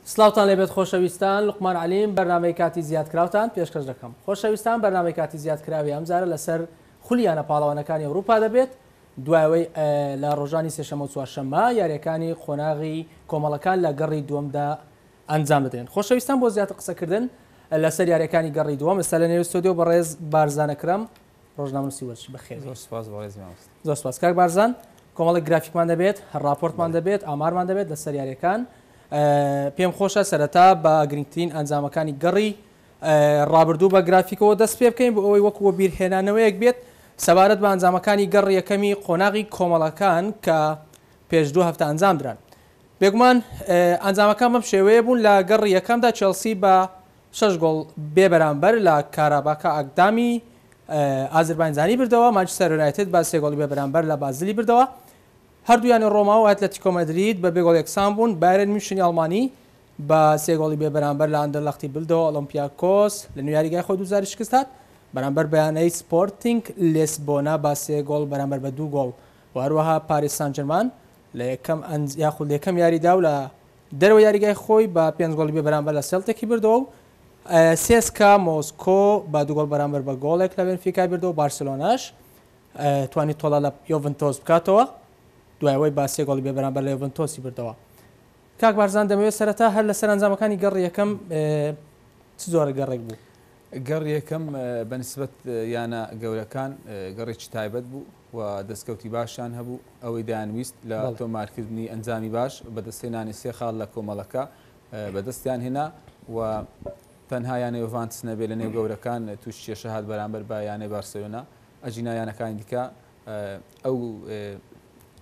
سلاوتان لێبێت خۆشەویستان لقمان علیم بەرنمەی کاتی زیادکراوتان پێشکەش دەکەم خۆشەویستان بەرنمەی کاتی زیادکراوی ئەمجارە لەسەر خولیانە پاڵەوانەکانی ئەوروپا دەبێت دوایەوەی لە ڕۆژانی سێشەمە و چوارشەمە یاریەکانی قۆناغی کۆمەڵەکان لە گەڕی دووەمدا ئەنجام بدرێن خۆشەویستان بۆ زیاتر قسەکردن لەسەر یاریەکانی گەڕی دووەم ئێستا لە نێو سۆدیۆ بەڕێز بارزانەکرم ڕۆژنامەنووسی وەرچی بەخێر بێی. زۆر سوپاس بەڕێز مامۆستا. زۆر سوپاس کاک بارزان. کۆمەڵێک گرافیکمان دەبێت، ڕاپۆرتمان دەبێت، ئامارمان دەبێت لەسەر یاریەکان. پێم خۆشە سەرەتا بە گرنگترین ئەنجامەکانی گەڕی ڕابردوو بە گرافیکەوە دەست پێ بکەین بۆ ئەوەی وەکو بیرهێنانەوەیەک بێت سەبارەت بە ئەنجامەکانی گەڕ یەکەمی قۆناغی کۆمەڵەکان کە پێش دوو هەفتە ئەنجام دران. بێگومان ئەنجامەکان بەم شێوەیە بوون لە گەڕی یەکەمدا چێڵسی بە شەش گۆڵ بێ بەرامبەر لە کاراباکا ئاکدامی ئازرباینجانی بردەوە، مانچستەر یونایتد بە سێ گۆڵی بێ بەرامبەر لە بازلی بردەوە، هەردوو یانەی رۆما و ئەتلەتیکۆ مەدرید بە بێ گۆڵ یەکسان بوون، بایرن میونشنی ئەڵمانی بە سێ گۆڵی بێ بەرامبەر لە ئاندەرلەختی بردەوە، ئۆڵۆمپیاکۆس لە نوێ یاریگای خۆی دووجاری شکست هات بەرامبەر بە یانەی سپۆرتینگ لیسبۆنا بە سێ گۆڵ بەرامبەر بە دوو گۆڵ و هەروەها پاریس سانجرمان لە یەکەم یاخود لە یەکەم یاریدا و لە دەرەوەی یاریگای خۆی بە پێنج گۆڵی بێ بەرامبەر لە سێڵتێکی بردەوە و سێسکا مۆسکۆ بە دوو گۆڵ بەرامبەر بە گۆڵێک لە بێنفیکای بردەوە، بارسێلۆناش توانی تۆڵە لە یۆڤنتۆس بکاتەوە دوای ئەوەی بە سێ گۆڵی بێ بەرامبەر لە یۆڤنتۆسی بردەوە. کاک بارزان دەمەوێت سەرەتا هەر لە سەرەنجامەکانی گەڕی یەکەم چ جۆرە گەڕێک بوو؟ گەڕی یەکەم بە نسبەت یانە گەورەکان گەڕێکی تایبەت بوو، و دەستکەوتی باشیان هەبوو، ئەوەی دەیانویست لە تۆمارکردنی ئەنجامی باش، بەدەستهێنانی سێ خاڵ لە کۆمەڵەکە بەدەستیان هێنا و تەنها یانەی یۆڤانتس نەبێت لە نێو گەورەکان تووشی کێشە هات بەرامبەر بە یانەی بارسێلۆنا، ئەگینا یانەکانی دیکە ئەو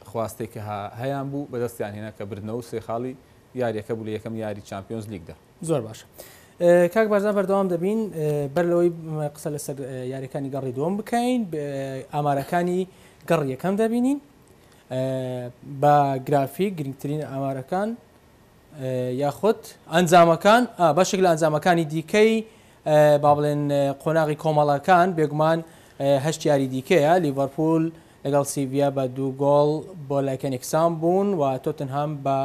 خواستەی کە هەیانبوو بەدەستیان هێنا کە بردنەوە و سێ خاڵی یارییەکە بوو لە یەکەم یاریی چامپیۆنزلیگدا. زۆر باش کاک بەرزان بەردەوام دەبین بەر لەوەی قسە لەسەر یاریەکانی گەڕی دووەم بکەین ئامارەکانی گەڕ یەکەم دەبینین بە گرافی گرنگترین ئامارەکان یاخود ئەنجامەکان بەشێک لە ئەنجامەکانی دیکەی با بڵێن قۆناغی کۆمەڵەکان بێگومان هەشت یاری دیکەیە لیڤەرپول لەگەڵ سیڤیا بە دوو گۆڵ بۆ لایکەنێکسان بوون و تۆتنهام بە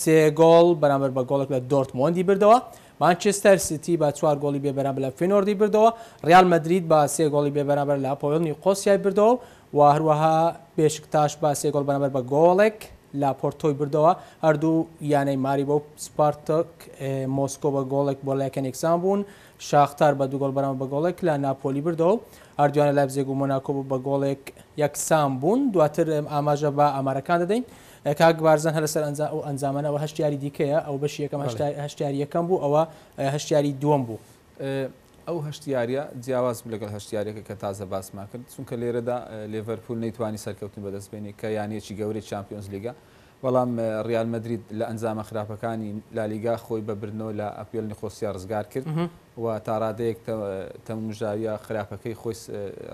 سێ گۆڵ بەرامبەر بە گۆڵێک لە دۆرتمۆندی بردەوە، مانچێستەر سیتی بە چوار گۆڵی بێ بەرامبەر لە فینۆردی بردەوە، ریال مەدرید بە سێ گۆڵی بێ بەرامبەر لە ئاپۆئێل نیقۆسیای بردەوە و هەروەها بێشکتاش بە سێ گۆڵ بەرامبەر بە گۆڵێک لە پۆرتۆی بردەوە، هەردوو یانەی ماریبۆ و سپارتاک مۆسکۆ بە گۆڵێک بۆ لایکەن یەکسان بوون، شاختار بە دوو گۆڵ بەرامبەر بە گۆڵێک لە ناپۆلی بردەوە و هەردوویانە لایپزێگ و مۆناکۆ بە گۆڵێک یەکسان بوون، دواتر ئاماژە بە ئامارەکان دەدەین. کاک بارزان هەر لەسەر ئەنجا ئەو ئەنجامانە ئەوە هەشت یاری دیکەیە ئەو بەشی یەکەم هەشت بەڵێ. هەشت یاری یەکەم بوو ئەوە هەشت یاری دووەم بوو. ئەو هەشت یاریە جیاواز بوو لەگەڵ هەشت یاریەکە کە تازە باسمان کرد چونکە لێرەدا لێڤەرپوول نەیتوانی سەرکەوتن بەدەست بێنی کە یانەیەکی گەورەی چامپیۆنز لیگە بەڵام ڕیال مەدرید لە ئەنجامە خراپەکانی لالیگا خۆی بە بردنەوە لە ئەپیەل نیقۆسیا ڕزگار کرد و تاڕادەیەک تە تەمومژاویە خراپەکەی خۆی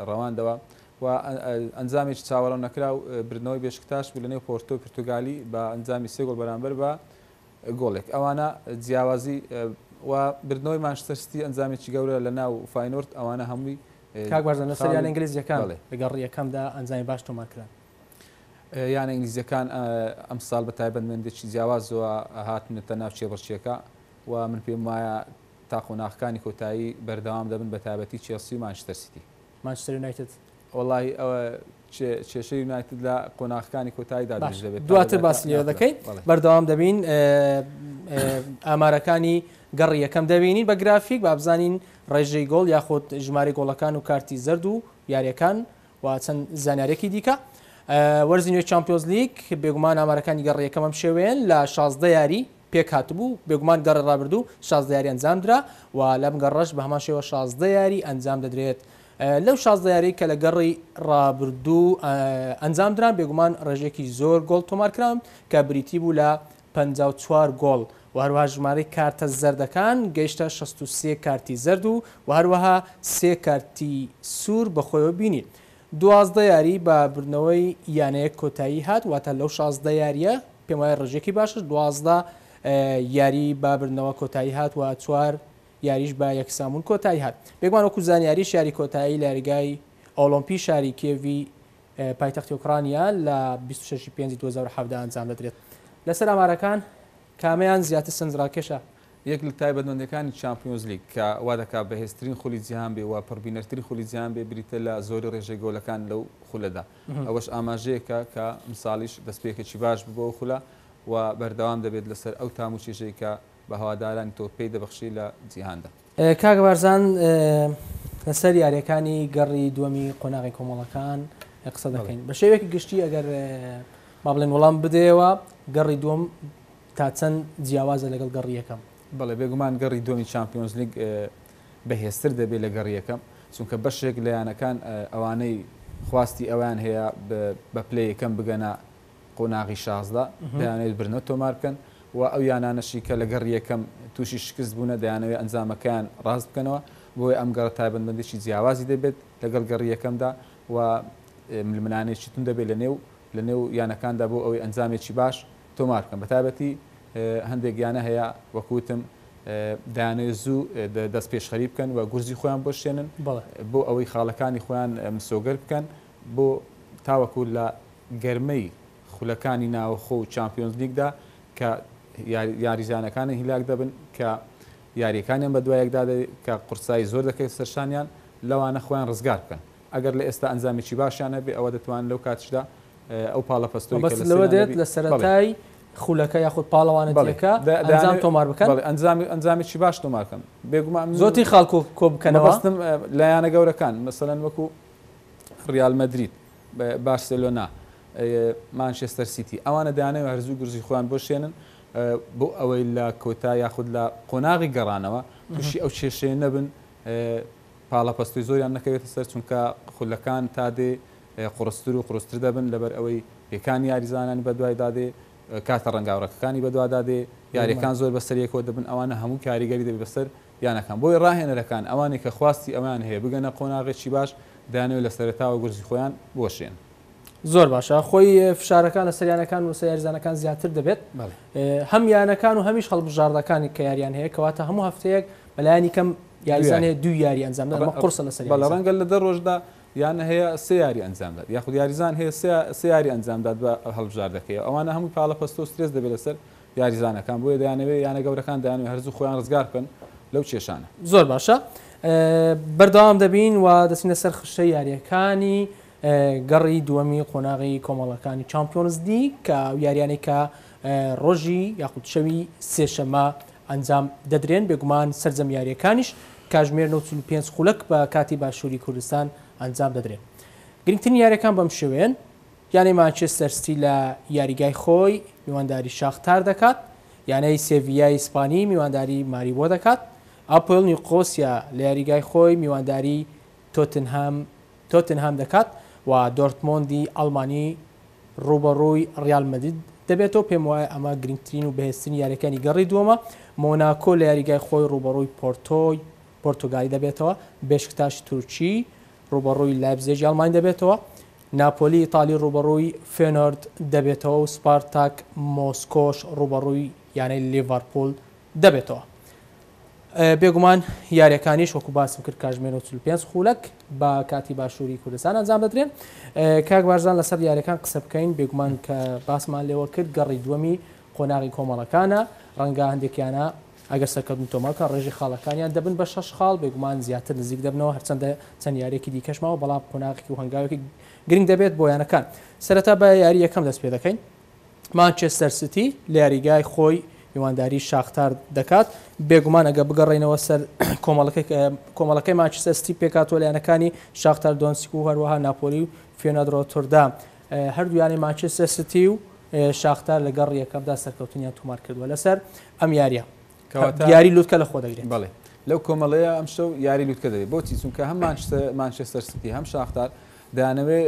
ڕەواندەوە و ئەنجامێکی چاوەڕەو نەکراو بردنەوەی بێشکتاش بوو لەنێو پۆرتۆی پرتوگالی بە ئەنجامی سێ گۆڵ بەرامبەر بە گۆڵێک ئەوانە جیاوازی و بردنەوەی مانچستەر سیتی ئەنجامێکی گەورە لەناو فاینۆرد ئەوانە هەمووی کاک بارزان لەسەر یانە ئینگلیزیەکان لەگەڵ ڕیەکەمدا ئەنجامی باش تۆمارکران. یانە ئینگلیزیەکان ئەمساڵ بە تایبەتمەندێکی جیاوازەوە هاتنەتە ناو کێبڕکێکە و من پێم وایە تا قۆناغەکانی کۆتایی بەردەوام دەبن بە تایبەتی چێڵسی و مانچستەر سیتی. مانچستەر یونایتد. وەڵاهی ئەوە کێشەی یونایتد لە قۆناغەکانی کۆتاییدا دروست باشە دەبێت تا دواتر لەدایکە باسی لێوە ناخرا دەکەین بەڵێ. بەردەوام دەبین ئێ ئامارەکانی گەڕی یەکەم دەبینین بە گرافیک با بزانین ڕێژەی گۆڵ یاخۆد ژمارەی گۆڵەکان و کارتی زەرد و یاریەکان و چەند زانیاریەکی دیکە ئێ وەرزی نوێی چامپیۆنزلیگ بێگومان ئامارەکانی گەڕی یەکەم ئەم شێوەیەن لە شازدە یاری پێکهاتبوو، بێگومان گەڕی ڕابردوو شازدە یاری ئەنجامدرا و لەم گەڕەش بە هەمان شێوە شازدە یاری ئەنجامدەدرێت، لەو شازدە یاریەی کە لە گەڕی ڕابردوو ئەنجامدران بێگومان ڕێژەیەکی زۆر گۆڵ تۆمارکراون کە بریتی بوو لە پەنجا و چوار گۆڵ و هەروەها ژمارەی کارتە زەردەکان گەیشتە شەست و سێ کارتی زەرد و هەروەها سێ کارتی سوور بەخۆیەوە بینی. دوازدە یاری بە بردنەوەی یانەیەک کۆتایی هات، واتە لەو شازدە یارییە پێم وایە ڕێژەیەکی باشە، دوازدە یاری بە بردنەوە کۆتایی هات و چوار یاریش بە یەکسانبوون کۆتایی هات. بێگومان وەکو زانیاریش یاری کۆتایی لە یاریگای ئۆڵۆمپی شاری کیێڤی پایتەختی ئۆکرانیا لە بیست و شەش ی پێنجی دوو هەزار و حەڤدە ئەنجام دەدرێت. لەسەر ئامارەکان کامەیان زیاتر سەرنجڕاکێشە؟ یەک لە تایبەتمەندییەکانی چامپیۆنزلیگ کە وادەکات بەهێزترین خولی جیهان بێ و پڕبینەرترین خولی جیهان بێ بریتە لە زۆری رێژەی گۆلەکان لەو خولەدا ئەوەش ئاماژەیەکە کە ئەمساڵیش دەستپێکێکی باش بوو بۆ ئەو خولە و بەردەوام دەبێت لەسەر ئەو تام و چێژەی کە بە هەوادارانی تۆپ پێی دەبەخشی لە جیهاندا. کاک بارزان لەسەر یارییەکانی گەڕی دووەمی قۆناغی کۆمەڵەکان قسە دەکەین بە شێوەیەکی گشتی ئەگەر با بڵێن وەڵام بدەیەوە گەڕی دووەم تا چەند جیاوازە لەگەڵ گەڕی یەکەم؟ بەڵێ، بێگومان گەڕی دووەمی چامپیۆنزلیگ بەهێزتر دەبێت لە گەڕی یەکەم، چونکە بەشێک لە یانەکان ئەوانەی خواستی ئەوەیان هەیە بە پلە یەکەم بگەنە قۆناغی شازدە، دەیانەوێت برنەو تۆمار بکەن و ئەو یانانەشی کە لە گەڕی یەکەم تووشی شکست بوونە، دەیانەوێت ئەنجامەکەیان راست بکەنەوە، بۆیە ئەم گەڕە تایبەتمەندیی جیاوازی دەبێت لەگەڵ گەڕی یەکەمدا و ململانێیەکی توند دەبێت لەنێو. لە نێو یانەکاندا بۆ ئەوەی ئەنجامێکی باش تۆمار بکەن، بەتایبەتی هەندێک یانە هەیە وەک وتم دەیانەوێت زوو دەستپێشخەری بکەن و گورزی خۆیان بۆشێنن بۆ ئەوەی خاڵەکانی خۆیان مسۆگەر بکەن بۆ تاوەکو لە گەرمەی خولەکانی ناوەخۆ و چامپیۆنزلیگدا کە یاریزانەکانی هیلاک دەبن کە یارییەکانیان بەدوایەکدا دەبێت کە قورسایی زۆر دەکەوێتە سەرشانیان لەوانە خۆیان ڕزگار بکەن. ئەگەر لە ئێستا ئەنجامێکی باشیان هەبێت ئەوە دەتوانن لەو کاتیشدا ئەو پاڵەپەستۆی کە لە سنە دەبێت. مەبەستت لەوە دێت لە سەرەتای خولەکە یاخود پاڵەوانێتییەکە ئەنجام تۆمار بکەن؟ بەڵێ ئەنجامێکی باش تۆمار بکەن. بێگومان. زۆرترین خاڵ کۆ بکەنەوە. مەبەستم لە یانە گەورەکان مەسەلەن وەکو ریال مەدرید، بارسێلۆنا، مانچێستەر سیتی ئەوانە دەیانەوێت هەرزوو گورزی خۆیان بۆشێنن بۆ ئەوەی لە کۆتا یاخود لە قۆناغی گەڕانەوە تووشی ئەو کێشەیە نەبن پاڵەپەستۆی زۆریان نەکەوێتە سەر، چونکە خولەکان تا دێ قوڕستر و قوڕستر دەبن، لەبەر ئەوەی پێکانی یاریزانانی بەدوایدا دێ، کارتە ڕەنگاورەکەکانی بەدوادا دێ، یارییەکان زۆر بەسەر یەکەوە دەبن، ئەوانە هەموو کاریگەری دەبێت بەسەر یانەکان، بۆیە ڕاهێنەرەکان ئەوانەی کە خواستی ئەوەیان هەیە بگەنە قۆناغێکی باش، دەیانەوێت لە سەرەتاوە گورزی خۆیان بۆشێن. زۆر باشە، خۆی فشارەکان لەسەر یانەکان و لەسەر یاریزانەکان زیاتر دەبێت، هەم یانەکان و هەمیش هەڵبژاردەکان کە یارییان هەیە، کەواتە هەموو هەفتەیەک بەلایەنی کەم یاریزان هەیە دوو یاری ئەنجام بدات، ئەمە قورسە لەسەر یاریزان. بەڵێ، ڕەنگە لە دە ڕۆژدا یانە هەیە سێ یاری ئەنجام بدات، یاخود یاریزان هەیە سێ یاری ئەنجام بدات بە هەڵبژاردەکەی، ئەوانە هەمووی پاڵەپەستۆ و سترێس دەبێت لەسەر یاریزانەکان، بۆیە دەیانەوێت یانە گەورەکان دەیانەوێت هەر زوو خۆیان ڕزگار بکەن لەو کێشانە. زۆر باشە، بەردەوام دەبین و دەچینە سەر خشتەی یارییەکانی گەڕی دووەمی قۆناغی کۆمەڵەکانی چامپیۆنزلیگ، ئەو یارییانەی کە ڕۆژی یاخود شەوی سێشەممە ئەنجام دەدرێن، بێگومان سەرجەم یارییەکانیش کاژمێر نۆ و چل و پێنج خولەک بە کاتی باشووری کوردستان ئەنجام دەدرێن. گرنگترین یارییەکان بەم شێوەیەن، یانەی مانچێستەر ستی لە یاریگای خۆی میوانداری شاختار دەکات، یانەی سێڤییای ئیسپانی میوانداری ماریبۆ دەکات، ئاپۆێل نیوقۆسیا لە یاریگای خۆی میوانداری تۆتنهام تۆتنهام دەکات و دۆرتمۆندی ئەڵمانی رووبەڕووی ریال مەدرید دەبێتەوە، پێموایە ئەمە گرنگترین و بەهێزترین یارییەکانی گەڕی دووەمە، مۆناکۆ لە یاریگای خۆی رووبەڕووی پۆرتۆی پۆرتوگالی دەبێتەوە، بێشکتاش تورکی رووبەڕووی لایپزێگی ئەڵمانی دەبێتەوە، ناپۆلی ئیتالی رووبەڕووی فێنۆرد دەبێتەوە و سپارتاک مۆسکۆش رووبەڕووی یانەی لیڤەرپوول دەبێتەوە. بێگومان یاریەکانیش وەکو باسم کرد کاژمێر و چل پێنج خولەک بە کاتی باشووری کوردستان ئەنجام دەدرێن کاک بارزان لەسەر یاریەکان قسە بکەین بێگومان کە باسمان لێوە کرد گەڕی دووەمی قۆناغی کۆمەڵەکانە ڕەنگە هەندێکیانە ئەگەر سەرکەوتن تۆمەکە ڕێژی خاڵەکانیان دەبن بە شەش خاڵ بێگومان زیاتر نزیک دەبنەوە هەرچەندە چەند یارێکی دیکەشمەوە بەڵام قۆناغی و هەنگاوێکی گرنگ دەبێت بۆ یانەکان سەرەتا بە یاری یەکەم دەست پێ دەکەین مانچێستەر سیتی لە یاریگای خۆی میوانداری شاختار دەکات بێگومان ئەگە بگەڕینەوە سەر کۆمەڵەکەی مانچستەر سیتی پێکاتوە لایەنەکانی شاختار دۆنسک و هەروەها ناپۆلی و فێنەدرۆ توردا هەردوویانی مانچستەر سیتی و شاختار لەگەڕ یەکەمدا سەرکەوتنیان تۆمار کردووە لەسەر ئەم یاریە یاری لوتکە لە خۆ دەگرێت بڵێ لەو کۆمەڵەیە ئەم شەو یاری لوتکە دەێت بۆچی چونکە هەم مانچستەر ستی هەم شاختار دانەوێ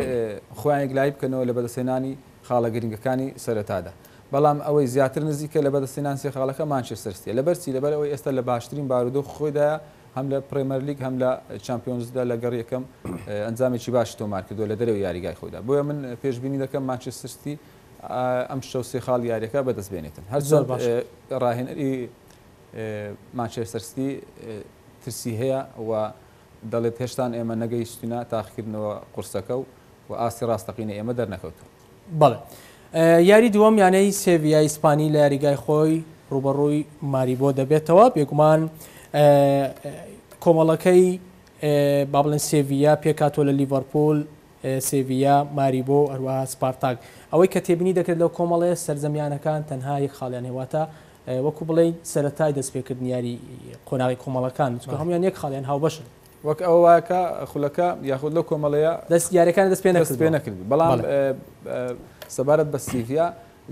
خۆیان یەکلای بکەنەوە لە بەدەسێنانی خاڵە گرنگەکانی سەرەتادا بەڵام ئەوەی زیاتر نزیکە لە بەدەستێنان سێ خاڵەکە مانچستەرستی لەبەرچی لەبەر ئەوەی ئێستا لە باشترین بارودۆ خۆیدا هەم لە پرێمەرلیک هەم لە چمپیۆنزدا لە گەڕ یەکەم ئەنجامێکی باش تۆمار کردو لە دەرەوە یاریگای خۆدا بۆیە من پێشببینی دەکەم مانچسترستی ئەم شەو سێ خاڵی یاریەکە بەدەست بێنێتن هەرچۆن ڕاهێنەری مانچێستەر سیتی ترسی هەیە و دەڵێت هێشتان ئێمە نەگەیشتینە تاقیکردنەوە قورسەکە و و ئاستی ڕاستەقینە ئێمە دەرنەکەوتو بەڵێ یاری دووەم یانەی سێڤیا ئیسپانی لە یاریگای خۆی ڕوبەڕووی ماریبۆ دەبێتەوە بێگومان کۆمەڵەکەی بابلن سێڤیا پێکاتۆ لە لیڤەرپۆل سێڤییا، ماریبۆ و هەروەها سپارتاک. ئەوەی کە تێبینی دەکرێت لەو کۆمەڵەیە، سەرجەم یانەکان تەنها یەک خاڵیان هەیە، واتە وەکو بڵێین سەرەتای دەستپێکردنی یاری قۆناغی کۆمەڵەکان، چونکە هەموویان یەک خاڵیان هاوبەشن. وەک ئەوە وایە کە خولەکە یاخود لەو کۆمەڵەیە یارییەکانی دەست پێنەکردوون، بەڵام سەبارەت بە سیڤییا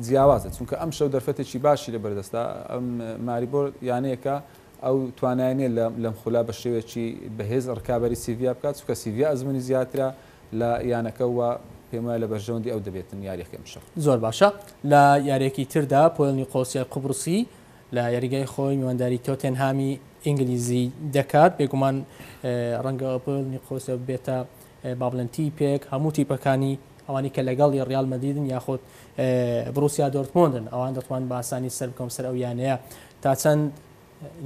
جیاوازە، چونکە ئەمشەو دەرفەتێکی باشی لەبەردەستە، ماریبۆ یانەیەکە ئەو توانای نیە لەم خولا بە شێوەیەکی بەهێز رکابەری سیڤییا بکات، چونکە سیڤییا ئەزموونی زیاترە لە یانەکە و پێم وایە لە بەرژەوەندی ئەو دەبێتن یارییەکە ئیمشەو. زۆر باشە لە یاریەکی تردا پۆیڵ نیقۆسیای قوبڕسی لە یاریگای خۆی میوانداری تۆتێنهامی ئینگلیزی دەکات بێگومان ڕەنگە پۆیڵ نیقۆسیا ببێتە با بڵێن تیپێک هەموو تیپەکانی ئەوانی کە لەگەڵی ڕیال مەدیدن یاخود بروسیا دۆرتمۆندن ئەوان دەتوان باسانی سەر بکەم سەر ئەو یانەیە تا چەند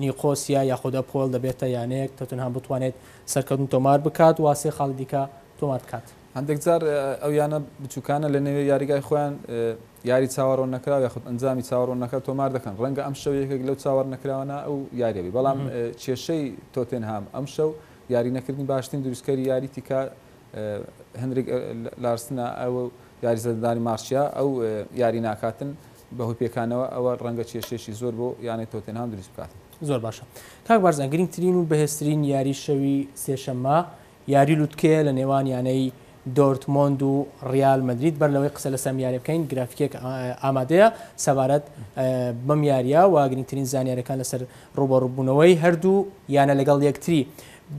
نیقۆسیا یاخود ئەپۆێڵ دەبێتە یانەیەک تۆتنهام بتوانێت سەرکەوتن تۆمار بکات و سێ خاڵی دیکە تۆمار بکات؟ هەندێک جار ئەو یانە بچووکانە لە نێوێ یاریگای خۆیان یاری چاوەڕۆن نەکراو یاخود ئەنجامی چاوەڕۆن نەکراو تۆمار دەکەن، ڕەنگە ئەمشەو یەکێک لەو چاوەڕ نەکراوانە ئەو یارییە بێت، بەڵام کێشەی تۆتێنهام ئەمشەو یاری نەکردنی باشترین دروستکەری یاری تیکا هنریک لارسنە و یاریزەدەدانی مارسیا ئەو یاری ناکاتن، بەهۆی پێکانەوە ئەوە ڕەنگە کێشەیەکی زۆر بۆ یانەی تۆتێنهام دروست بکات. زۆر باشە کاک بارزان گرینگترین و بەهێزترین یاری شەوی سێشەممە یاری لوتکەیە لە نێوان یانەی دۆرتمۆند و ڕیال مەدرید بەر لەوەی قسە لەسەم یاریە بکەین گرافیکێک ئامادەیە سەبارەت بەم یاریە و گرینگترین زانیارەکان لەسەر ڕوبەڕوبوونەوەی هەردوو یانە لەگەڵ یەکتری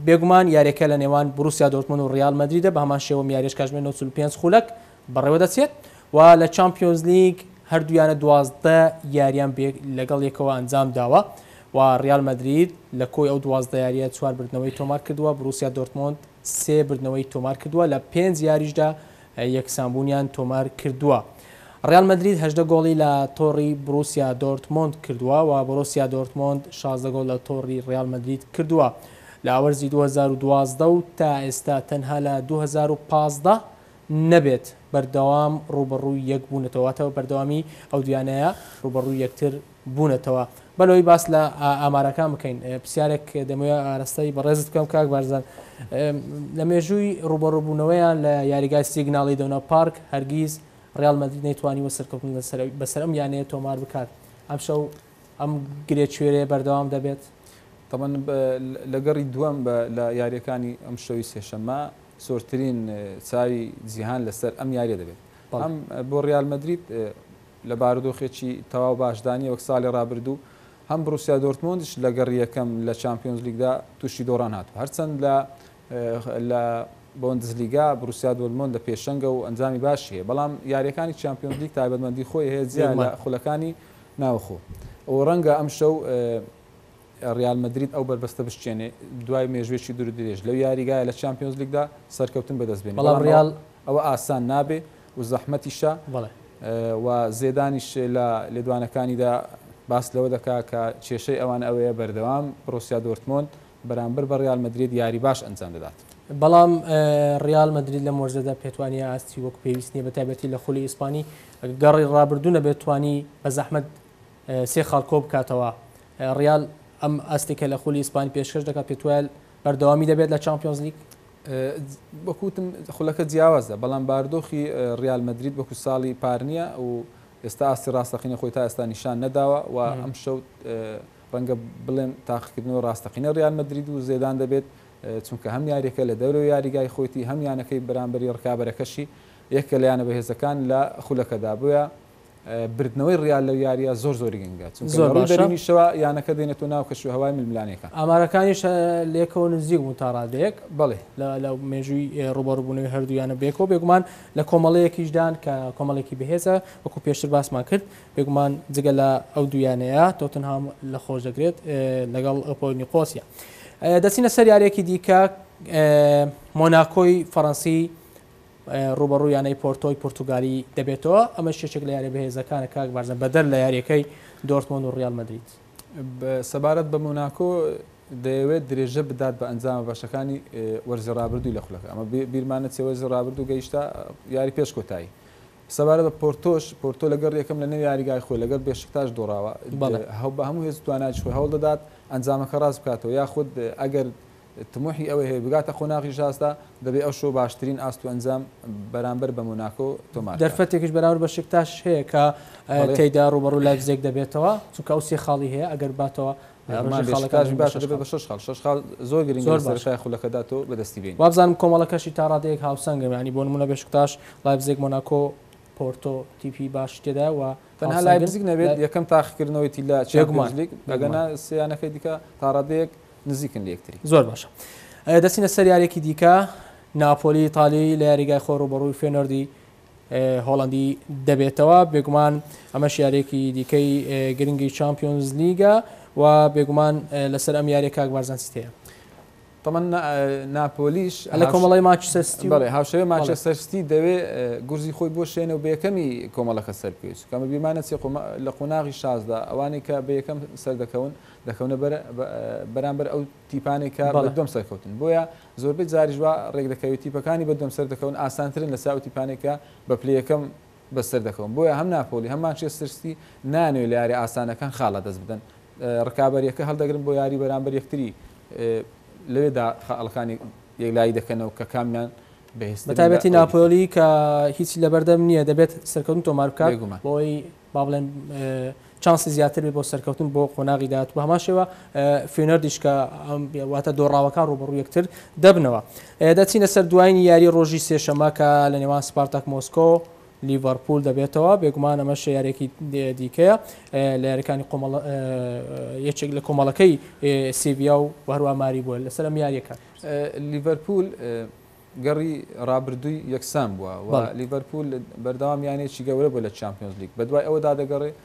بێگومان یاریەکە لە نێوان بروسیا دۆرتمۆند و ڕیال مەدریدە بە هەمان شێوەم یاریش کاژمێر 95 خولەک بەڕێوەدەچێت و لە چامپیۆنزلیگ هەردوویانە دوازدە یارییان لەگەڵ یەکەوە ئەنجامداوە و ریال مەدرید لە کۆی ئەو دوازدە یارییە چوار بردنەوەی تۆمارکردووە، بروسیا دۆرتمۆند سێ بردنەوەی تۆمارکردووە، لە پێنج یاریشدا یەکسانبوونیان تۆمارکردووە. ریال مەدرید هەژدە گۆڵی لە تۆڕی بروسیا دۆرتمۆند کردووە و بروسیا دۆرتمۆند شازدە گۆڵ لە تۆڕی ریال مەدرید کردووە لە وەرزی دوو هەزار و دوازدە و تا ئێستا تەنها لە دوو هەزار و پازدە نەبێت بەردەوام ڕووبەڕووی یەک بوونەتەوە واتە بە بەردەوامی ئەو دوویانەیە ڕووبەڕووی یەکتر بوونەتەوە با لەوەی باس لە ئامارەکان بکەین پرسیارێک دەمەوێ ئاراستەی بەڕێزت بکەم کاک بارزان لە مێژووی ڕووبەڕووبوونەوەیان لە یاریگای سیگناڵی دەونا پارک هەرگیز ڕیال مەدرید نەیتوانیوە سەرکەوتن لەسەر بەسەر ئەم یانەیە تۆمار بکات ئەمشەو ئەم گرێچوێرەیە بەردەوام دەبێت طبعا لەگەڕی دووەم بە لە یاریەکانی ئەم شەوی سێشەمە سوورترین چاوی جیهان لەسەر ئەم یارییە دەبێت، هەم بۆ ریال مەدرید لە بارودۆخێکی تەواو باشدا نییە وەک ساڵی رابردوو، هەم بڕوسیا دۆرتمۆندیش لە گەڕی یەکەم لە چامپیۆنزلیگدا تووشی دۆڕان هاتووە، هەرچەند لە بۆندسلیگا بڕوسیا دۆرتمۆند لە پێشەنگە و ئەنجامی باشی هەیە، بەڵام یارییەکانی چامپیۆنزلیگ تایبەتمەندی خۆی هەیە جیا لە خولەکانی ناوخۆ و رەنگە ئەمشەو. ریال مەدرید ئەو بەربەستە بشکێنێ دوای مێژووێکی دوور و درێژ لەو یاریگایە لە چامپیۆنزلیگدا سەرکەوتن بەدەست بێنێ، بەڵام ئەوە ئاسان نابێ و زەحمەتیشە و زێدانیش لە لێدوانەکانیدا باس لەوە دەکا کە کێشەی ئەوان ئەوەیە بەردەوام بڕۆسیا دۆرتمۆند بەرامبەر بە ریال مەدرید یاری باش ئەنجام دەدات. بەڵام ریال مەدرید لەم وەرزەدا پێتوانییە ئاستی وەک پێویست نییە بەتایبەتی لە خولی ئیسپانی، گەڕی رابردوو نەبێت توانی بەزەحمەت سێ خاڵ کۆبکاتەوە، ڕیال ئەم ئاستێکە لە خولی ئیسپانی پێشکەش دەکات، پێت وایە بەردەوامی دەبێت لە چامپیۆنزلیگ؟ وەک وتم خولەکە جیاوازە، بەڵام بارودۆخی ڕیال مەدرید وەکو ساڵی پار نییە و ئێستا ئاستی ڕاستەقینەی خۆی تا ئێستا نیشان نەداوە و ئەمشەو ڕەنگە بڵێن تاقیکردنەوەی ڕاستەقینەی ڕیال مەدرید و زێدان دەبێت، چونکە هەم یارییەکە لە دەورەوەی یاریگای خۆیتی، هەم یانەکەی بەرامبەری ڕکابەرەکەشی یەکێکە لە یانە بەهێزەکان لە خولەکەدا، بۆیە بردنەوەی ڕیال لەو یارییە زۆر زۆر گرنگە، چونکە لە ڕووی بەرینیشەوە یانەکە دێنێتە ناو کەشوهەوای ململانێکان. ئامارەکانیش لێکەوە نزیک بوون تا ڕادەیەک لە مێژووی ڕووبەڕووبوونەوەی هەردوو یانە بەیەکەوە، بێگومان لە کۆمەڵەیەکیشدان کە کۆمەڵێکی بەهێزە، وەکو پێشتر باسمان کرد، بێگومان جگە لە ئەو دوو یانەیە تۆتنهام لە خۆش دەگرێت لەگەڵ ئەپۆ نیقۆسیا. دەچینە سەر یارییەکی دیکە، مۆناکۆی فەرەنسی رووبەڕووی یانەی پۆرتۆی پورتوگالی دەبێتەوە، ئەمەش یەکێک لە یارییە بەهێزەکانە کاک بارزان، بەدەر لە یارییەکەی دۆرتمۆند و ریال مەدرید. سەبارەت بە مۆناکۆ، دەیەوێت درێژە بدات بە ئەنجامە باشەکانی وەرزی رابردووی لە خولەکە، ئەمە بیرمان نەچێت وەرزی رابردوو گەیشتە یاری پێش کۆتایی، سەبارەت بە پۆرتۆش، پۆرتۆ لە گەڕی یەکەم لە نێو یاریگای خۆی لەگەڵ بێشکتاش دۆڕاوە، بە هەموو هێز و توانایەکی خۆی هەوڵدەدات ئەنجامەکە راست بکاتەوە، یاخود ئەگەر تموحی ئەوەی هەیە بگاتە قۆناغی شازدە، دەبێت ئەو شۆ باشترین ئاست و ئەنجام بەرامبەر بە مۆناکۆ تۆمار بکات. دەرفەتێکیش بەرامبەر بەشیکتاشیش هەیە کە تێیدا رووبەڕووی لایپزێگ دەبێتەوە، چونکە ئەو سێ خاڵی هەیە، ئەگەر بباتەوە رێژەی خاڵەکانی بە شەش خاڵ. شەش خاڵ شەش خاڵ زۆر گرنگە لە سەرەتای خولەکەدا تۆ بەدەستی بێنیت. وابزانم کۆمەڵەکەشی تا رادەیەک هاوسەنگە، یانی بۆ نموونە بێشکتاش، لایپزێگ، مۆناکۆ، پۆرتۆ تیپی باشی تێدایە و تەنها لایپزیگ نەبێت یەکەم تاقیکردنەوەیەتی لە چامپیۆنزلیگ، ئەگەرنا سێ یانەکەی دیکە تا رادەیەک نزیکن لە یەکتری. زۆر باشە دەچینە سەر یاریەکی دیکە ناپۆلی ئیتالی لە یاریگای خۆ ڕوبەڕووی فێنۆردی هۆڵندی دەبێتەوە بێگومان ئەمەش یاریەکی دیکەی گرنگی چمپیۆنز لیگە و بێگومان لەسەر ئەم یاریە کاک بارزانسی هەیە طبعا ناپۆلیش لە کۆمەڵی ماچستی بڵێ هاوشێوە ماچەسەرستی دەوێ گورزی خۆی بۆ شوێنە و بەکەمی کۆمەڵەکە سەرپێچ کەمە بیمانە چێ لە قۆناغی شازدا ئەوانەی کە بەکەم سەردەکەون دەکەونە بەر بەرامبەر ئەو تیپانەی کە بە دوم سەرکەوتن بۆیە زۆربەی جاریش وا ڕێک دەکەوێت تیپەکانی بە دوم سەر دەکەون ئاسانترن لە ساو تیپانێک کە بە پلی یەکەم بەسەر دەکەون بۆیە هەم ناپۆلی هەم مانچێستەر سیتی نانوێ لە یاری ئاسانەکان خاڵ لەدەست بدەن ڕکابەریەکە هەڵدەگرن بۆ یاری بەرامبەر یەکتری لەوێدا خەڵکانی یەکلایی دەکەنەوە کە کامیان بەهێست بەتابەتی ناپۆلی کە هیچی لەبەردەم نییە دەبێت سەرکەون تۆمار بکات بۆی با بڵێن چانسی زیاتر بێت بۆ سەرکەوتن بۆ قۆناغی داهاتوو، بە هەمان شێوە فیۆنەردیش کە واتە دۆڕاوەکان ڕووبەڕووی یەکتر دەبنەوە. دەچینە سەر دوایین یاریی ڕۆژی سێشەممە کە لە نێوان سپارتاک مۆسکۆ و لیڤەرپوول دەبێتەوە، بێگومان ئەمەش یارییەکی دیکەیە لە یارییەکانی قۆمەڵە یەکێک لە کۆمەڵەکەی سێڤییا و هەروەها ماریبۆل لەسەر ئەم یارییە کار دەکات. لیڤەرپوول گەڕی رابردووی یەکسان بووە و لیڤەرپوول بەردەوام یانەیەکی گەورە بووە لە چامپیۆنزلیگ، بەدوای ئەوەدا دەگەڕێت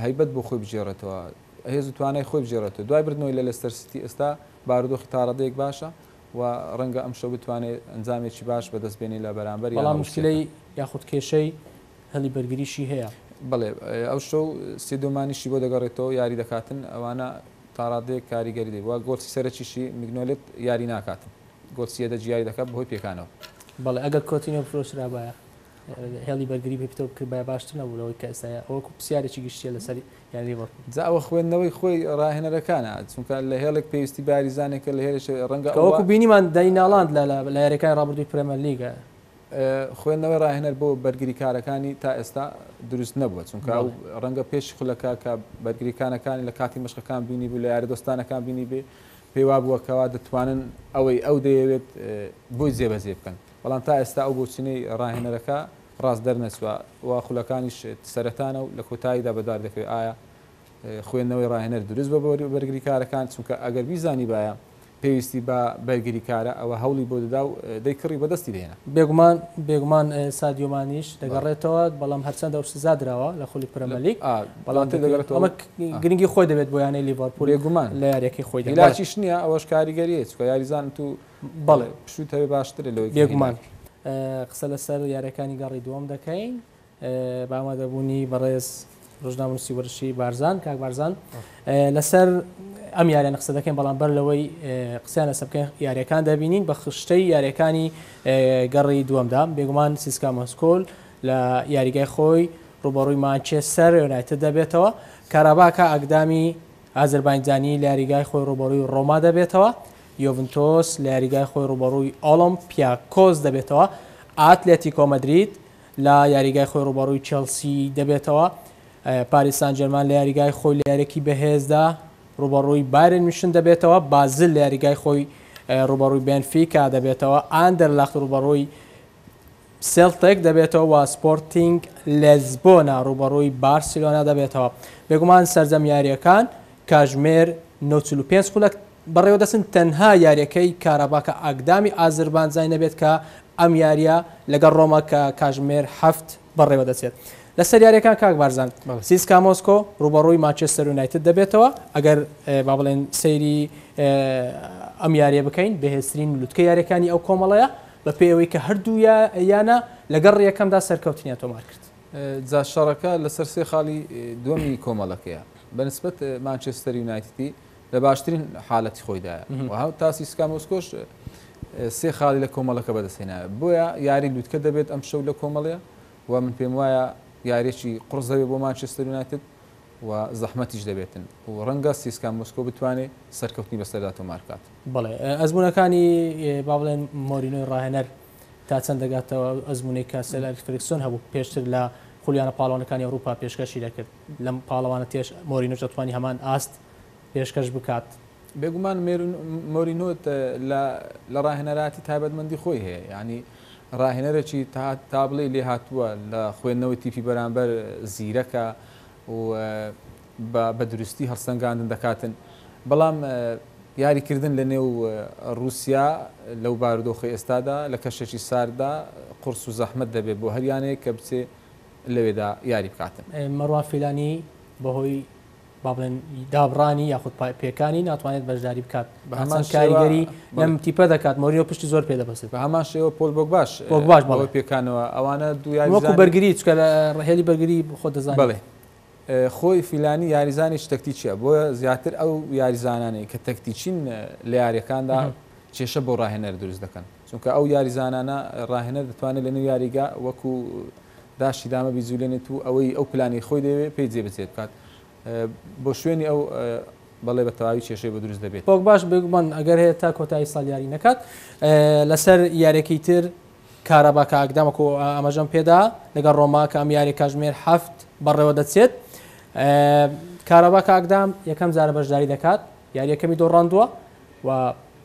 هەیبەت بۆ خۆی بگێڕێتەوە، هێز و توانای خۆی بگێڕێتەوە، دوای بردنەوەی لە لێستەر سیتی ئێستا بارودۆخی تاڕادەیەک باشە و رەنگە ئەمشەو بتوانێت ئەنجامێکی باش بەدەستبێنێت لە بەرامبەر یانە رووسییەکان. بەڵام موشکیلەی یاخود کێشەی هێڵی بەرگریشی هەیە. بەڵێ، ئەوشەو سێدیۆ مانیشی بۆ دەگەڕێتەوە، یاری دەکاتن، ئەوانە تاڕادەیەک کاریگەری دەبێت و گۆڵی سەرەکیشی میگنۆلێت یاری ناکاتن. بۆ چیە دە جیاری دەکات بەهۆی پێکانەوە. بەڵێ ئەگەر کۆتینیۆ بفرۆشرابایە هێڵی بەرگری پێ پتەو بکردبایە باشتر نەبوو لەوەی کە ئێستا ئەوە وەکو پرسیارێکی گشتیە لەسەر یانەی لیڤەرپوڵ. جا ئەوە خوێندنەوەی خۆی راهێنەرەکانە چونکە لە هێڵێک پێویستی باریزانێکە لە هێلێش رەنگە ئەوە. وەکو بینیمان دەنی نالاند لە لە یاریەکانی رابردووی پرێمەر لیگە. خوێندنەوەی راهێنەر بۆ بەرگریکارەکانی تا ئێستا دروست نەبووە چونکە ئەو رەنگە پێش خولەکە کە بەرگریکانەکانی لە کاتی مەشقەکان بینیبوو لە یارە دۆستانەکان بینیبێ پێی وابووە کەوا دەتوانن ئەوەی ئەو دەیەوێت بۆی جێبەجێ بکەن، بەڵام تا ئێستا ئەو بۆچوونەی راهێنەرەکە راست دەرنەچووە و خولەکانیش سەرەتانە و لە کۆتاییدا بەدوار دەکەوێت ئایا خوێندنەوەی راهێنەر دروست بووە بۆ بەرگریکارەکان، چونکە ئەگەر بیزانیبایە پێویستی بە بەرگریکارە ئەوا هەوڵی بۆ دەدا و دەی کڕی و بەدەستی دەهێنا. بێگومان بێگومان سادیۆ مانیش دەگەڕێتەوە، بەڵام هەرچەندە ئەو سزا دراوە لە خولی پرەمەلیگ، بەڵاتر دەگەڕێتەوە ئەمە گرنگی خۆی دەبێت بۆ یانەی لیڤەرپوول بێگومان لە یاریەکەی خۆی هیلاکیش نییە ئەوەش کاریگەریە چکە یاریزان تو بەڵێ پشوت هەوێ باشترە لەوەی بێگومان قسە لەسەر یارەکانی گەڕی دووەم دەکەین بامادەبوونی بەڕێز ڕژناموسی وەرشی بارزان کاک بارزان لەسەر ئەم یاریان قسە دەکەین بەڵام بەر لەوەی قسەیان لەسە بکەین یاریەکان دەبینین بە خشتەی یاریەکانی گەڕی دووەمدا بێگومان سیسکا مەسکۆل لە یاریگای خۆی رووبەڕووی مانچێستەر یۆنایتد دەبێتەوە، کاراباکا ئاکدامی ئازەربایجانی لە یاریگای خۆی رووبەڕووی رۆما دەبێتەوە، یۆڤنتۆس لە یاریگای خۆی رووبەڕووی ئۆڵۆمپیاکۆس دەبێتەوە، ئاتلێتیکۆ مەدرید لە یاریگای خۆی رووبەڕووی چێڵسی دەبێتەوە، پاریس سانجێرمان لە یاریگای خۆی لە یارییەکی بەهێزدا رووبەڕووی بایرن میونشن دەبێتەوە، بازل لە یاریگای خۆی رووبەڕووی بێنفیکا دەبێتەوە، ئاندەرلەخت رووبەڕووی سێڵتک دەبێتەوە و سپۆرتینگ لێزبۆنا رووبەڕووی بارسیلۆنا دەبێتەوە، بێگومان سەرجەم یارییەکان کاژمێر نۆ چل و پێنج خولەک بەڕێوەدەچن، تەنها یارییەکەی کاراباکە ئاکدامی ئازربانجای نەبێت کە ئەم یارییە لەگەڵ رۆما کە کاژمێر حەفت بەڕێوەدەچێت. لەسەر یارییەکان کاک بارزان سیسکا مۆسکۆ رووبەڕووی مانچێستەر یونایتد دەبێتەوە، ئەگەر با بڵێین سەیری ئەم یارییە بکەین بەهێزترین لوتکەی یارییەکانی ئەو کۆمەڵەیە، بەپێی ئەوەی کە هەردوو یانە لە گەڕی یەکەمدا سەرکەوتنیان تۆمار کرد. جا شەڕەکە لەسەر سێ خاڵی دووەمی کۆمەڵەکەیە، بەنسبەت مانچێستەر یونایتدی لە باشترین حالەتی خۆیدایە و تا سیسکا مۆسکۆش سێ خاڵی لە کۆمەڵەکە بەدەستهێناوە، بۆیە یاری لوتکە دەبێت ئەمشەو لە کۆمەڵە و من پێموایە یاریێکی قوڕسدەبێت بۆ مانچێستەر یونایتد. و زەحمەتیش دەبێتن و ڕەنگە سیسکا مۆسکۆ بتوانێ سەرکەوتنی بەسەردا تۆمارکات. بەڵێ ئەزموونەکانی با بڵێن مۆرینۆی ڕاهێنەر تا چەند دەگاتەوە ئەو ئەزموونەی کە سێر ئەلیکس فێرگسۆن هەبوو پێشتر لە خولیانە پاڵەوانەکانی ئەوروپا پێشکەشی دەکرد لەم پاڵەوانە تێش مۆرینۆش دەتوانی هەمان ئاست پێشکەش بکات. بێگومان مۆرینۆ لە راهێنەرایەتی تایبەتمەندی خۆی هەیە، یانی راهێنەرێکی تا بڵێی لێهاتووە لە خوێندنەوەی تیپی بەرامبەر، زیرەکە و بە دروستی هەڵسەنگاندن دەکاتن، بەڵام یاریکردن لە نێو روسیا لەو بارودۆخەی ئێستادا لە کەشێکی سارددا قورس و زەحمەت دەبێت بۆ هەر یانەیەک کە بچێت لەوێدا یاری بکاتن. مەروان فیلانی بەهۆی. با بڵێن دابڕانی یاخود پێکانی ناتوانێت بەشداری بکات بە هەمان کاریگەری لەم تیپە دەکات مۆریۆ پشتی زۆر پێ دەبەسێت بە هەمان شێوە پۆل بۆک باش بۆک باش بەڵێ پێکانەوە ئەوانە دویان وەکو بەرگری چکە لە ڕهێلی بەرگری خۆ دەزان بڵێ خۆی فیلانی یاریزانی تەکتیچە بۆ زیاتر ئەو یاریزانانی کە تەکتیچین لە یاریەکاندا کێشە بۆ ڕاهێنەر دروست دەکەن چونکە ئەو یاریزانانە راهێنەر دەتوانێت لەنێو یاریگا وەکو داشی دامە بیجولێنێت و ئەوەی ئەو پلانەی خۆی دەیەوێت پێی جێبەجێ بکات بۆ شوێنی ئەو بەڵێ بە تەواوی کێشەی بۆ دروست دەبێت. پۆگباش بێگومان ئەگەر هەیە تا کۆتایی ساڵ یاری نەکات. لەسەر یاریەکەی تر کارابا کە ئاکدام وەکو ئاماژەم پێدا لەگەڵ رۆما کە ئەم یاریە کاژمێر هەفت بەڕێوە دەچێت. کارابا کە ئاکدام یەکەم جارە بەشداری دەکات، یاریەکەمی دۆڕاندووە و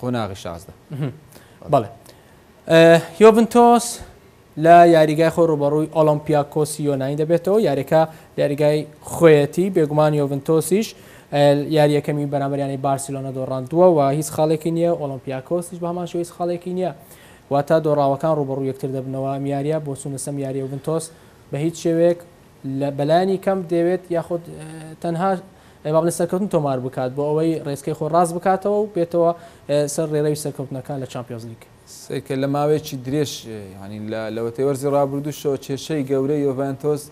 قۆناغی شازدە بەڵێ یۆڤنتۆس لە یاریگای خۆ ڕوبەڕووی ئۆلمپیاکۆسی یۆنانی دەبێتەوە یاریەکە یاریگای خۆیەتی بێگومان یۆڤنتۆسیش یاریەکەمی بەرامبەریانی بارسیلۆنە دۆڕاندووە و هیچ خاڵێکی نییە ئۆلمپیاکۆسیش بەمان شوی خاڵێکی نییە واتە دۆڕاوەکان ڕوبەڕوو یەکتر دەبنەوە میارە بۆ چونە سەم یاریۆڤنتۆس بە هیچ شێوەیەک لە بەلایەنی کەم دەیەوێت یاخود تەنها با بڵێین سەرکەوتن تۆمار بکات بۆ ئەوەی ڕێچکەی خۆی ڕاست بکاتەوە و بێتەوە سەر ڕێڕەوی سەرکەوتنەکان لە چامپیۆنزلیگ. سکە لە ماوەیەکی درێژ یانی لە لەوەتەی وەرزی ڕابردووشەوە کێشەی گەورەی یۆڤێنتۆس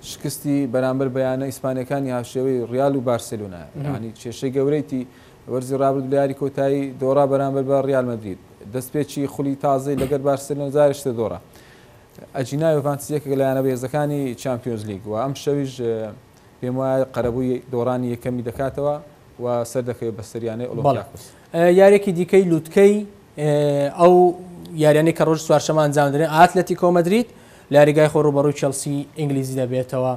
شکستی بەرامبەر بە یانە ئیسپانیەکانی هاوشێوەی ڕیال و بارسێلۆنایە یانی کێشەی گەورەیتی وەرزی ڕابرد لە یاری کۆتایی دۆڕا بەرامبەر بە ڕیال مەدرید دەستپێکی خولی تازەی لەگەر بارسێلۆن زارشتە دۆڕا ئەجینا یۆڤانتس یەکێکە لە یانە بەهێزەکانی چامپیۆنزلیگ و ئەمشەویش پێموایە قەرەبووی دۆڕانی یەکەمی دەکاتەوە و سەردەکەوێت بەسەر یانەی ئۆڵۆمپیاکۆس. یارییەکی دیکەی لوتکەی ئەو یارییانەی کە ڕۆژی چوارشەممە ئەنجام دەدرێن، ئاتلەتیکۆ مەدرید لە یاریگای خۆی ڕووبەڕووی چێڵسیی ئینگلیزی دەبێتەوە،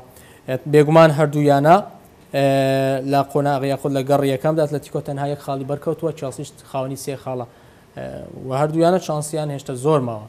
بێگومان هەردوو یانە لە قۆناغ یاخود لە گەڕی یەکەمدا، ئاتلەتیکۆ تەنها یەک خاڵی بەرکەوتووە، چێڵسیش خاوەنی سێ خاڵە و هەردوو یانە چانسیان هێشتا زۆر ماوە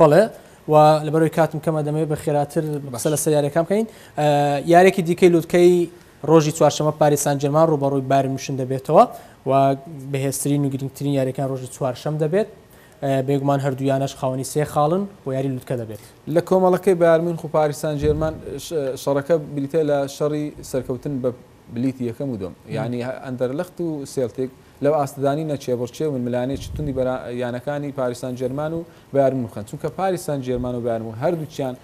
بەڵێ و لەبەرەوەی کاتم کەمە دەمەوێت بە خێراتر بەسە لە سەر یاریەکان بکەین یارێکی دیکەی لوتکەی ڕۆژی چوارشەمە پاریسان جەرمان ڕوبەڕووی بارمشن دەبێتەوە و بەهێزترین و گرنگترین یاریەکان ڕۆژی چوارشەم دەبێت بێگومان هەردوویانەش خاوەنی سێ خاڵن و یاری لوتکە دەبێت لە کۆمەڵەکەی بارمین خو پاریسان جێرمان شەڕەکە بریتە لە شەڕی سەرکەوتن بە بلیتی یەکەم و دووەم یانی ئەندەرلخت و سێلتیک لەو ئاستدانی نە کێبڕکێ و ململانێکی توندی بەرا یانەکانی پاریس سانجێرمان و بایرن میونخن چونکە پاریس سانجێرمان و بایرن میونخ هەردووکیان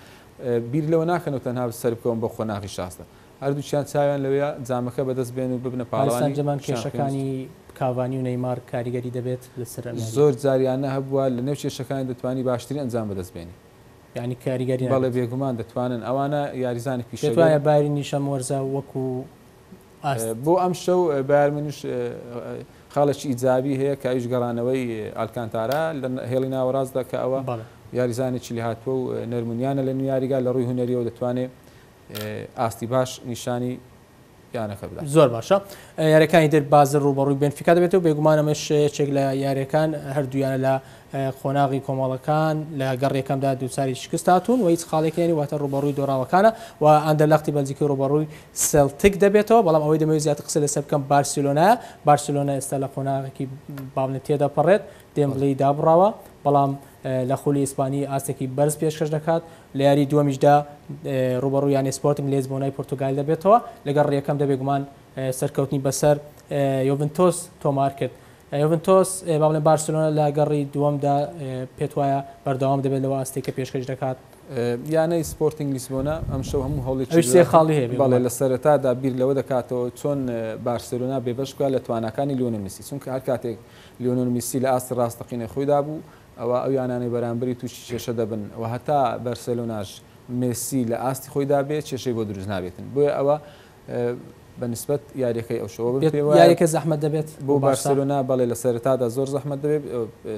بیر لەوە ناکەن و تەنها سەربکەون بۆ قۆناغی شازدە هەردووکیان چاویان لەوەیە جامەکە بەدەست بێن و ببنە پاریس پاڵەوانی سانجێرمان شامپیۆنز کێشەکانی کاڤانی و نەیمار کاریگەری دەبێت لەسەر ئەمیارییان؟ زۆر جار یانە هەبووە لەنێو کێشەکانی دەتوانی باشترین ئەنجام بەدەست بێنی یانی کاریگەر نابێت. بەڵێ بێگومان دەتوانن ئەوانە یاریزانانی پیشەگەر. پێت وایە بایرن یش ئەم وەرزە وەکو ئاست. بۆ ئەمشەو بایرن میونش خاڵێکی ئیجابی هەیە کە ئەویش گەڕانەوەی ئالکانتارا لە هێڵی ناوەڕاستدا کە ئەوە یاریزانێکی لێهاتووە و نەرمونیانە لە نوو یاریگا لە ڕووی هونەریەوە دەتوانێ ئاستی باش نیشانی یانەکە بدات. زۆر باشە یاریەکانی تر بازل ڕووبەڕووی بێنفیکا دەبێتەوە بێگومان ئەمەش یەکێک لە یاریەکان هەردوو یانە لە قۆناغی کۆمەڵەکان لە گەڕیەکەمدا دووچاری شکست هاتوون و هیچ خاڵێکی هەنی واتە ڕووبەڕووی دۆراوەکانە و ئەندەلەختی بەلجیکی ڕووبەڕووی سێلتیک دەبێتەوە بەڵام ئەوەی دەمەوێت زیاتر قسە لەسەر بکەم بارسێلۆنایە بارسێلۆنا ئێستا لە قۆناغێکی باڵندەی تێدەپەڕێت دێمبڵێی دابڕاوە بەڵام لە خولی ئیسپانی ئاستێکی بەرز پێشکەش دەکات، لە یاریی دووەمیشدا رووبەڕووی یانەی سپۆرتینگ لیزبۆنای پورتوگال دەبێتەوە، لەگەڵ ڕییەکەم دە بێگومان سەرکەوتنی بەسەر یۆڤنتۆس تۆمارکرد. یۆڤنتۆس با بڵێن بارسێلۆنا لە گەڕی دووەمدا پێتوایە بەردەوام دەبێت لەو ئاستەی کە پێشکەش دەکات؟ یانەی سپۆرتینگ لیسبۆنا ئەمشەو هەموو هەوڵێکی ئەویش سێ خاڵی هەیە، بەڵێ لە سەرەتادا بیر لەوە دەکاتەوە چۆن بارسێلۆنا بێبەش بکات لە تواناکانی لیۆنێل مێسی، چونکە هەر کاتێک لیۆنێل میسی لە ئاستی ڕاستەقینەی خۆیدا بوو، ئەوا ئەو یانانەی بەرامبەری تووشی کێشە دەبن و هەتا بەرسێلۆناش مێسی لە ئاستی خۆیدا بێت کێشەی بۆ دروست نابێتن، بۆیە ئەوە بە نسبەت یارییەکەی ئەو شەوە بم پێ وایە یارییەکە زەحمەت دەبێت بۆ بارسێلۆنا، بەڵێ لە سەرەتادا زۆر زەحمەت دەبێت،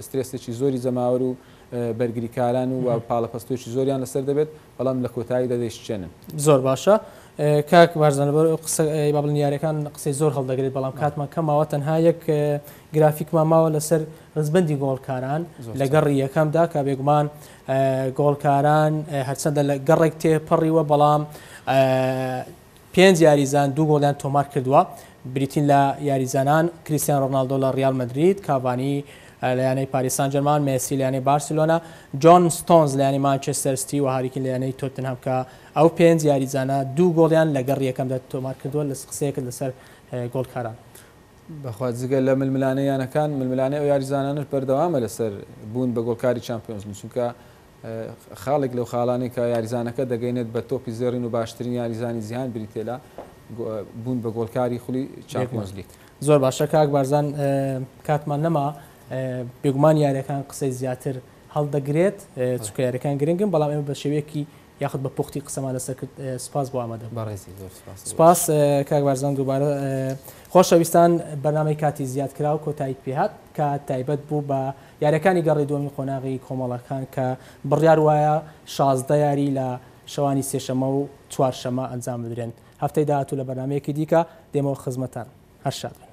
سترێسێکی زۆری جەماوەر و بەرگریکاران و پاڵەپەستۆکی زۆریان لەسەر دەبێت، بەڵام لە کۆتاییدا دەیشکێنن. زۆر باشە کاک بارزان لەبەر ئەو قسە ئەی با بڵێن یاریەکان قسەی زۆر هەڵدەگرێت بەڵام کاتمان کەم ماوە تەنها یەک گرافیکمان ماوە لەسەر ڕزبەندی گۆڵکاران لە گەڕی یەکەمدا کە بێگومان گۆڵکاران هەرچەندە لە گەڕێک تێپەڕیوە بەڵام پێنج یاریزان دوو گۆڵیان تۆمارکردووە، بریتین لە یاریزانان کریستیانۆ رۆناڵدۆ لە ریال مەدرید، کاڤانی لە یانەی پاریس سان جێرمان، مێسی لە یانەی بارسێلۆنا، جۆن ستۆنز لە یانەی مانچێستەر ستی و هاری کین لە یانەی تۆتنهام کە ئەو پێنج یاریزانە دوو گۆڵیان لە گەڕی یەکەمدا تۆمارکردووە. قسەیەکت لەسەر گۆڵکاران. بەخوا جگە لە ململانێ یانەکان، ململانێ ئەو یاریزانانەش بەردەوامە لەسەر بوون بە گۆڵکاری چامپیۆنزلیگ، چونکە خاڵێک لەو خاڵانەی کە یاریزانەکە دەگەیەنێت بە تۆپی زێڕین و باشترین یاریزانی جیهان بریتییە لە بوون بە گۆڵکاری خولی چامپیۆنز لیگ. زۆر باشە کاک بارزان کاتمان نەما بێگومان یاریەکان قسەی زیاتر هەڵدەگرێت چکە یاریەکان گرنگن بەڵام ئێمە بە شێوەیەکی یاخود بە پوختی قسەمان لەسەر کرد سپاس بۆ ئامادە بەڕێزی زۆر سپاس کاک بارزان دووبارە خۆشەویستان بەنامەی کاتی زیاد کرا و کۆتایی پێهات کە تایبەت بوو بە یارییەکانی گەڕی دووەمی قۆناغی کۆمەڵەکان کە بڕیار وایە شازدە یاری لە شەوانی سێشەممە و چوارشەممە ئەنجام بدرێن، هەفتەی داهاتوو لە بەرنامەیەکی دیکە دێمەوە خزمەتتان. هەر شاد بن.